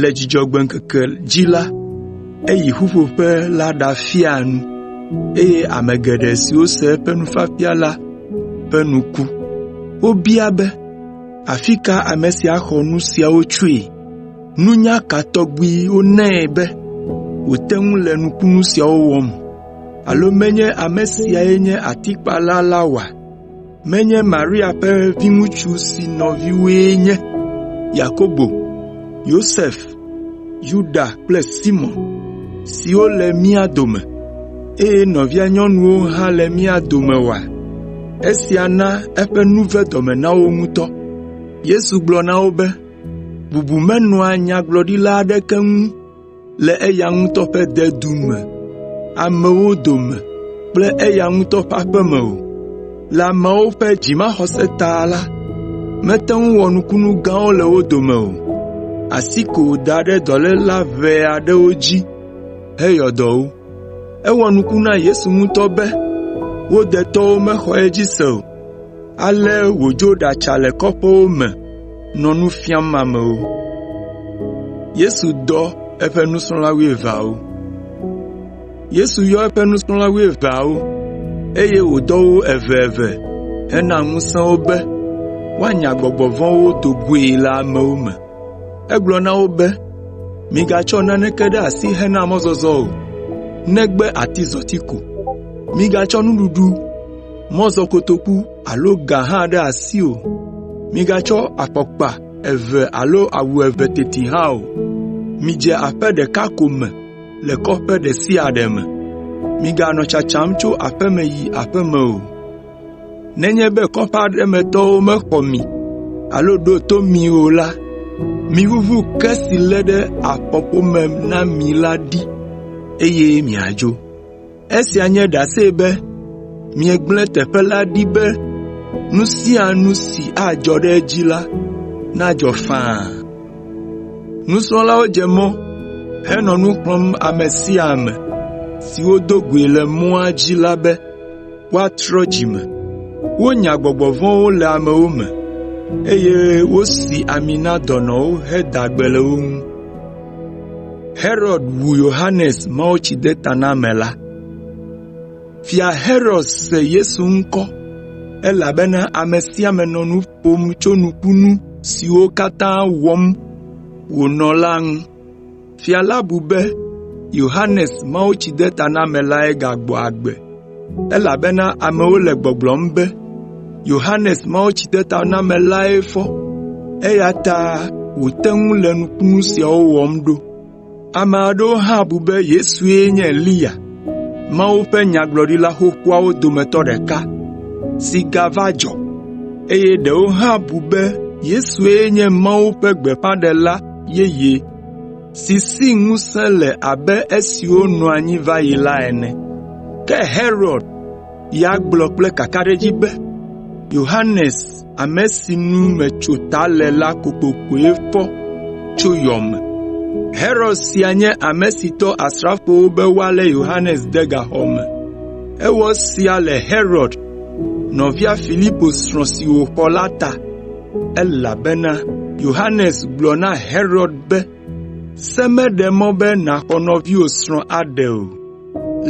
Le Dzudzɔgbe ŋkeke dzi la, eyi ƒuƒoƒe la ɖafia nu, eye ame geɖe siwo se eƒe nufiafia la ƒe nu ku. Wobia be, “Afi ka ame sia xɔ nu siawo tsoe? Nunya ka tɔgbi wonae be wòte ŋu le nukunu siawo wɔm? Alo menye ame siae nye atikpala la oa?” menye Maria ƒe viŋutsu si nɔviwoe nye Yakobo, Yosef, Yuda kple Simɔn, siwo le mía dome, eye nɔvia nyɔnuwo hã le mía dome oa?” Esia na eƒe nu ve dɔme na wo ŋutɔ. Yesu gblɔ na wo be, “Bubu menɔa nyagblɔɖila aɖeke ŋu le eya ŋutɔ ƒe dedu me, amewo dome kple eya ŋutɔ ƒe aƒe me o. Le ameawo ƒe dzimaxɔse ta la, mete ŋu wɔ nukunu gãwo le wo dome o, asi ko wòda ɖe dɔléla ʋɛ aɖewo dzi heyɔ dɔ wo. Ewɔ nuku na Yesu ŋutɔ be wo detɔwo mexɔ edzi se o. Ale wòdzo ɖatsa le kɔƒewo me nɔ nu fiam amewo. Yesu Dɔ Eƒe Nusrɔ̃la Wuieveawo Yesu yɔ eƒe nusrɔ̃la wuieveawo, eye wòdɔ wo eveeve hena ŋusẽ wo be woanya gbɔgbɔ vɔ̃wo do goe le amewo me. Egblɔ na wo be, “Migatsɔ naneke ɖe asi hena mɔzɔzɔ o, negbe atizɔti ko. Migatsɔ nuɖuɖu mɔzɔkotoku alo ga hã ɖe asi o. Migatsɔ afɔkpa eve alo awu eve teti hã o. Midze aƒe ɖeka ko me le kɔƒe ɖe sia ɖe me. Miganɔ tsatsam tso aƒeme yi aƒeme o. Nenye be kɔƒe aɖe me tɔwo mexɔ mi alo ɖo to mi o la, miʋuʋu ke si lé ɖe afɔƒome na mi la ɖi, eye miadzo.” Esia nye ɖase be miegblẽ teƒe la ɖi be nu sia nu si adzɔ ɖe edzi la, nadzɔ faa. Nusrɔ̃lawo dze mɔ henɔ nu xlɔ̃m ame sia ame si wodo goe le mɔa dzi la be woatrɔ dzi me. Wonya gbɔgbɔ vɔ̃wo le amewo me, eye wosi ami na dɔnɔwo heda gbe le wo ŋu. Herod wu Yohanes Mawutsidetanamela. Fia Herod se Yesu ŋkɔ, elabena ame sia ame nɔ nu ƒom tso nukunu siwo katã wɔm wònɔ la ŋu. Fia la bu be Yohanes Mawutsidetanamelae gagbɔ agbe. elabena amewo le gbɔgblɔm be, ‘Yohanes Mawutsidetanamelae fɔ, eya ta wòte ŋu le nukunu siawo wɔm ɖo.’ Ame aɖewo hã bu be Yesue nye Eliya, Mawu ƒe nyagblɔɖila xoxoawo dometɔ ɖeka si gava dzɔ, eye ɖewo hã bu be Yesue nye Mawu ƒe gbeƒãɖela yeye.” si si ŋusẽ le abe esiwo nɔ anyi va yi la ene. Ke Herod ya gblɔ kple kakaɖedzi be, “Yohanes, ame si nu metso ta le la kokokoe fɔ tso yɔ me.” Herod sia nye ame si dɔ asrafowo be woalé Yohanes de gaxɔ me. Ewɔ esia le Herod, nɔvia Filipo srɔ̃ si wòxɔ la ta. elabena Yohanes gblɔ na Herod be, “Se meɖe mɔ be nàxɔ nɔviwò srɔ̃ aɖe o.”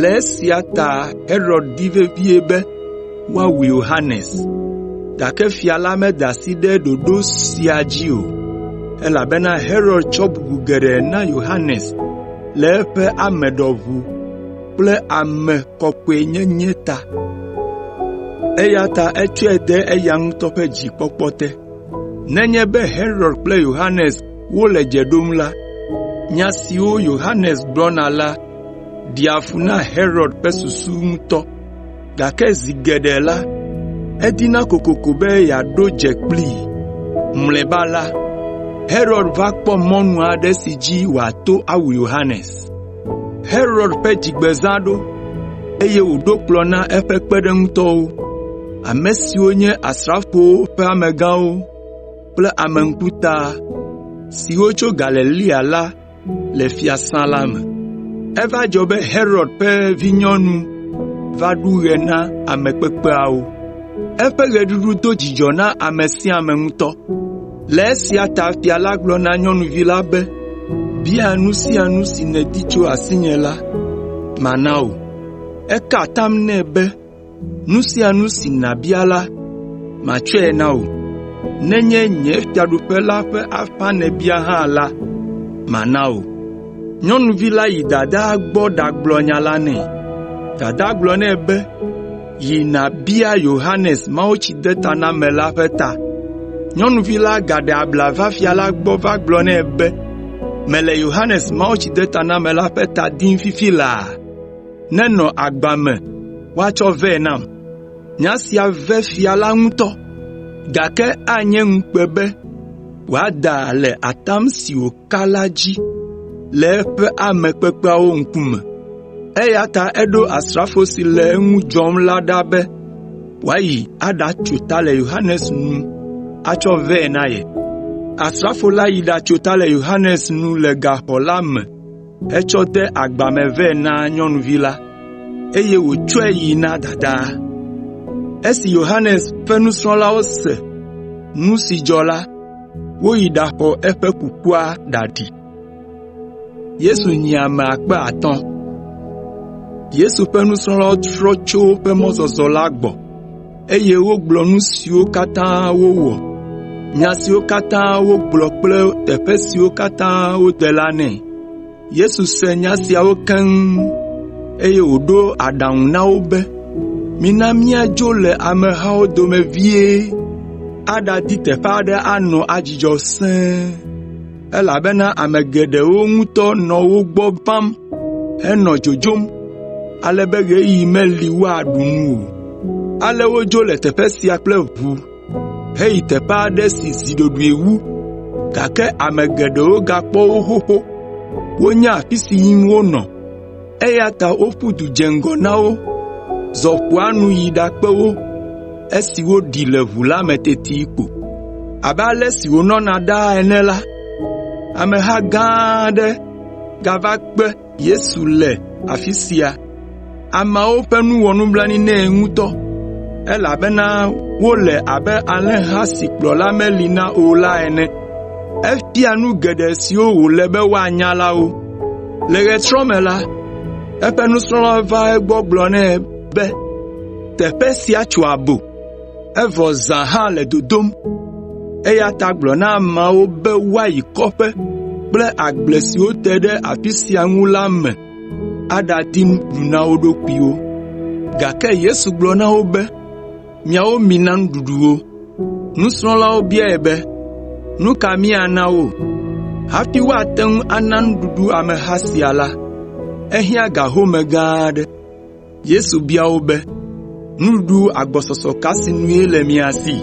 Le esia ta Herod di vevie be woawu Yohanes. Gake fia la meda asi ɖe ɖoɖo sia dzi o, elabena Herod tsɔ bubu geɖe na Yohanes le eƒe ame ɖɔʋu. kple ame kɔkɔenyenye ta, eya ta etsɔe de eya ŋutɔ ƒe dzikpɔkpɔ te. Nenye be Herod kple Yohanes wole dze ɖom la, nya siwo Yohanes gblɔna la ɖea fu na Herod ƒe susu ŋutɔ, gake zi geɖe la, edina kokoko be yeaɖo dze kplii. Mlɔeba la, Herod va kpɔ mɔnu aɖe si dzi wòato awu Yohanes. Herod ƒe dzigbezã ɖo, eye wòɖo kplɔ̃ na eƒe kpeɖeŋutɔwo, ame siwo nye asrafowo ƒe amegãwo kple ame ŋkuta siwo tso Galilea la le fiasã la me. Eva dzɔ be Herod ƒe vinyɔnu va ɖu ɣe na ame kpekpeawo. Eƒe ɣeɖuɖu do dzidzɔ na ame sia ame ŋutɔ. Le esia ta fia la gblɔ na nyɔnuvi la be, “Bia nu sia nu si nèdi tso asinye la, mana wò.” Eka atam nɛ be, “Nu sia nu si nàbia la, matsɔe na wò. Nenye nye fiaɖuƒe la ƒe afã nèbia hã la, mana wò.” Nyɔnuvi la yi dadaa gbɔ ɖagblɔ nya la nɛ. Dadaa gblɔ nɛ be, “Yi nàbia Yohanes Mawutsidetanamela ƒe ta.” Nyɔnuvi la gaɖe abla va fia la gbɔ va gblɔ nɛ be, “Mele Yohanes Mawutsidetanamela ƒe ta dim fifi laa. Nenɔ agba me woatsɔ vɛ nam.” Nya sia ve fia la ŋutɔ, gake anye ŋukpe be wòada le atam si wòka ka la dzi le eƒe ame kpekpeawo ŋkume. Eya ta eɖo asrafo si le eŋu dzɔm la ɖa be wòayi aɖatso ta le Yohanes nu atsɔ vɛ na ye. Asrafo la yi ɖatso ta le Yohanes nu le gaxɔ la me hetsɔ de agba me vɛ na nyɔnuvi la, eye wòtsɔe yi na dadaa. Esi Yohanes ƒe nusrɔ̃lawo se nu si dzɔ la, Woyi ɖaxɔ eƒe kukua ɖaɖi. Yesu nyi ame akpe atɔ̃ (5,000). Yesu ƒe nusrɔ̃lawo trɔ tso woƒe mɔzɔzɔ la gbɔ, eye wogblɔ nu siwo katã wowɔ, nya siwo katã wogblɔ kple teƒe siwo katã wode la nɛ. Yesu se nya siawo keŋ, eye wòɖo aɖaŋu na wo be, “Mina míadzo le amehawo dome vie aɖadi teƒe aɖe anɔ adzudzɔ sẽe, elabena ame geɖewo ŋutɔ nɔ wo gbɔ vam henɔ dzodzom ale be ɣeyiɣi meli woaɖu nu o.” Ale wodzo le teƒe sia kple ʋu heyi teƒe aɖe si zi ɖoɖoe wu, gake ame geɖewo gakpɔ wo xoxo. Wonya afi si yim wonɔ, eya ta woƒu du dze ŋgɔ na wo, zɔ ƒua nu yi ɖakpe wo esi woɖi le ʋu la me teti ko. Abe ale si wònɔna ɖaa ene la, ameha gã aɖe gava kpe Yesu le afi sia. Ameawo ƒe nu wɔ nublanui nɛ ŋutɔ, elabena wole abe alẽha si kplɔla meli na o la ene. Efia nu geɖe siwo wòle be woanya la wo. Le ɣetrɔ me la, eƒe nusrɔ̃lawo va egbɔ gblɔ nɛ be, “Teƒe sia tso abo. evɔ zã hã le dodom. Eya ta gblɔ na ameawo be woayi kɔƒe kple agble siwo te ɖe afi sia ŋu la me aɖadi nuɖuɖu na wo ɖokuiwo.” Gake Yesu gblɔ na wo be, “Miawo mina nuɖuɖu wo.” Nusrɔ̃lawo biae be, “Nu ka míana wo?” Hafi woate ŋu ana nuɖuɖu ameha sia la, ehiã ga home gã aɖe. Yesu bia wo be, “Nuɖuɖu agbɔsɔsɔ ka sinue le mia si?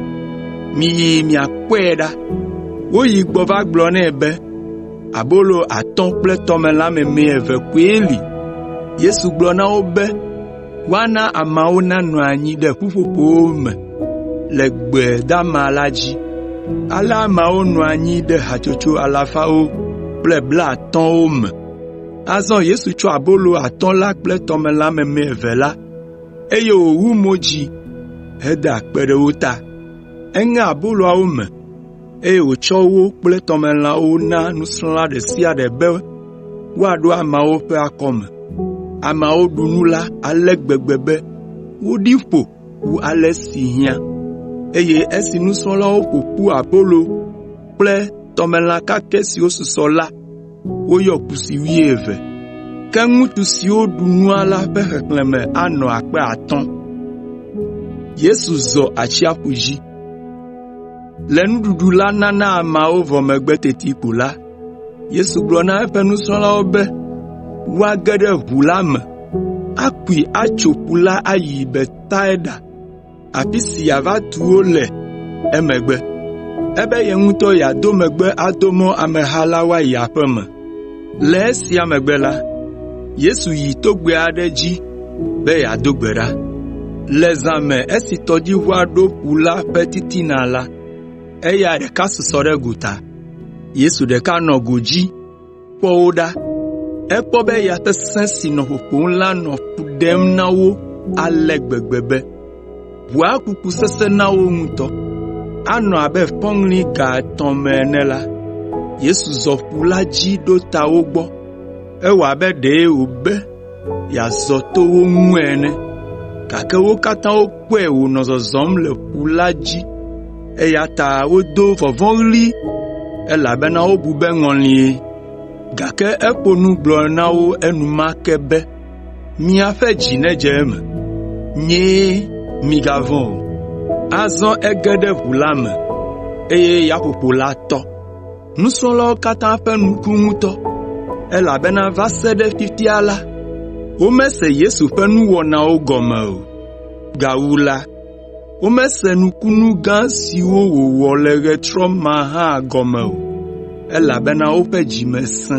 Miyi miakpɔe ɖa.” Woyi gbɔ va gblɔ nɛ be, “Abolo atɔ̃ kple tɔmelã meme eve koe li.” Yesu gblɔ na wo be woana ameawo nanɔ anyi ɖe ƒuƒoƒowo me le gbe dama la dzi. Ale ameawo nɔ anyi ɖe hatsotso alafawo kple blaatɔ̃wo me. Azɔ Yesu tsɔ abolo atɔ̃ la kple tɔmelã meme eve la, eye wòwu mo dzi heda akpe ɖe wo ta. Eŋe aboloawo me, eye wòtsɔ wo kple tɔmelãwo na nusrɔ̃la ɖe sia ɖe be woaɖo ameawo ƒe akɔme. Ameawo ɖu nu la ale gbegbe be woɖi ƒo wu ale si hiã. Eye esi nusrɔ̃lawo ƒo ƒu abolo kple tɔmelã kakɛ siwo susɔ la, woyɔ kusi wuieve. Ke ŋutsu siwo ɖu nua la ƒe xexlẽme anɔ akpe atɔ̃. Le nuɖuɖu la nana ameawo vɔ megbe teti ko la, Yesu gblɔ na eƒe nusrɔ̃lawo be woage ɖe ʋu la me akui atso ƒu la ayi Betsaida. afi si yeava tu wo le emegbe. Ebe ye ŋutɔ yeado megbe ado mɔ ameha la woayi aƒe me. Le esia megbe la, Yesu yi togbɛ aɖe dzi be yeado gbe ɖa. Le zã me esi tɔdziʋua ɖo ƒu la ƒe titina la, eya ɖeka susɔ ɖe gota. Yesu ɖeka nɔ godzi. kpɔ wo ɖa. Ekpɔ be ya sesẽ si nɔ ƒoƒom la nɔ fu ɖem na wo ale gbegbe be, ʋua kuku sesẽ na wo ŋutɔ. Anɔ abe fɔŋli ga etɔ̃ me ene la, Yesu zɔ ƒu la dzi ɖo ta wo gbɔ. Ewɔ abe ɖee wòbe yeazɔ to wo ŋu ene. Gake wo katã wokpɔe wònɔ zɔzɔm le ƒu la dzi, eya ta wodo vɔvɔ̃ɣli elabena wobu be ŋɔlie. Gake eƒo nu gblɔ na wo enumake be, “Miaƒe dzi nedze eme. Nyee, migavɔ̃ o.” Azɔ ege ɖe ʋu la me, eye yaƒoƒo la tɔ. Nusrɔ̃lawo katã ƒe nu ku ŋutɔ, elabena va se ɖe fifia la, womese Yesu ƒe nuwɔnawo gɔme o. Gawu la, womese nukunu gã siwo wòwɔ le ɣetrɔ ma hã gɔme o, elabena woƒe dzi me sẽ.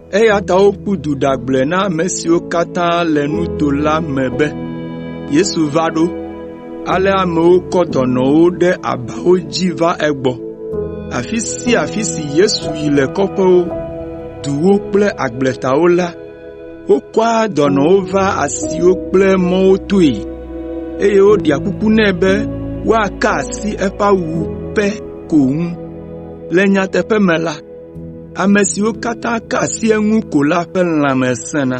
Eya ta woƒu du ɖagblɔe na ame siwo katã le nuto la me be, “Yesu va ɖo!” Ale amewo kɔ dɔnɔwo ɖe abawo dzi va egbɔ. Afi sia afi si Yesu yi le kɔƒewo, duwo kple agbletawo la, wokɔa dɔnɔwo vaa asiwo kple mɔwo toe, eye woɖea kuku nɛ be woaka asi eƒe awu pɛ ko ŋu. Le nyateƒe me la, Ame siwo katã ka asi eŋu ko la ƒe lãme sẽna.”